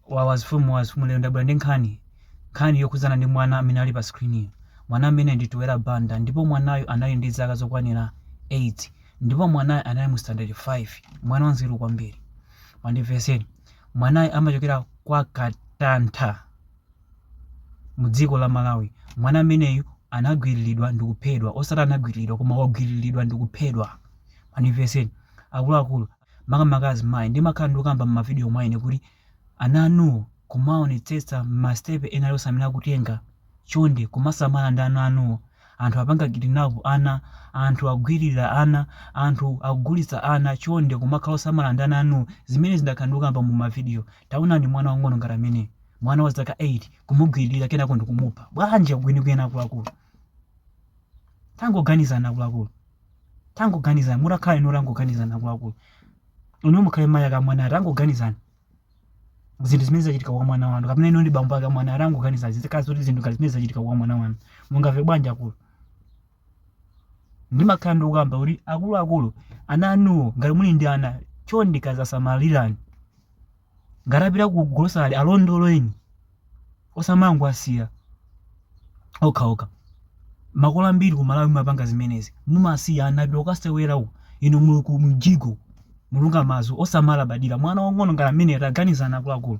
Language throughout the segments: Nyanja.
wawa mafumu wawa mafumu lero ndabwera ndi nkhani nkhani yokhudzana ndi mwana amene ali pa screen mwana ameneyu ndi Tuwera Banda ndipo mwanayu anali ndi zaka zokwanira 8 ndipo mwanayu anali mu standard 5 mwana wanzeru kwambiri mwandimvetseni mwanayu amachokera kwa Katantha mu dziko la Malawi mwana ameneyu anagwiriridwa ndi kuphedwa osati anagwiriridwa koma wagwiriridwa ndi kuphedwa mwandimvetseni akuluakulu makamaka azimayi ndimakhala ndikukamba mmavidiyo mwaine kuti ana anuwo kumaonetsetsa masitepe ena alionse amene akutenga, chonde kumasamala ndi ana anuwo, anthu apanga kidinapu ana, anthu akugwililira ana, anthu akugulitsa ana, chonde kumakhala osamala ndi ana anuwo, zimenezi ndakhala ndikukamba mumavidiyo, taonani mwana wang'ono ngati ameneyu, mwana wa zaka 8 kumugwililira kenako ndikumupha, bwanji kwenikweni akuluakulu? Tangoganizani akuluakulu. tangoganizani mutakhala inu tangoganizani akuluakulu inu mukhale mayi aka mwana tangoganizani zinthu zimenezi zachitika kwa mwana wanu kapena inu ndi bambo aka mwana tangoganizani zizikhala zoti zinthu ngati zimenezi zachitika kwa mwana wanu mungamve bwanji akulu ndimakhala ndikukamba kuti akuluakulu ana anuwo ngati muli ndi ana chonde kaziwasamalirani ngati apita ku grocery alondoleni osamangowasiya okhaokha makolo ambiri ku malawi mumapanga zimenezi mumawasiya ana apita kukasewera uko inu muli ku mjigo mulunga mazu osamalabadira mwana wang'ono ngati ameneyu taganizani akuluakulu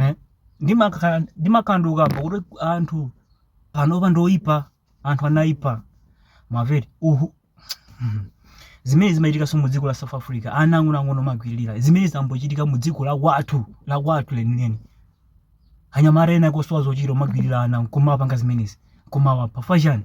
Eh? Ndimakhala ndikukamba kuti anthu panopa ndoyipa, anthu anayipa. Mwavere. Uhu. Zimenezi zimachitikaso mu dziko la South Africa, ana ang'onoang'ono kumawagwiririra. Zimenezi zayamba kuchitika mu dziko la kwathu, la kwathu lenileni. Anyamata ena kusowa zochita kumagwirira ana nkumawapanga zimenezi. Kumawapha. Chifukwa chani.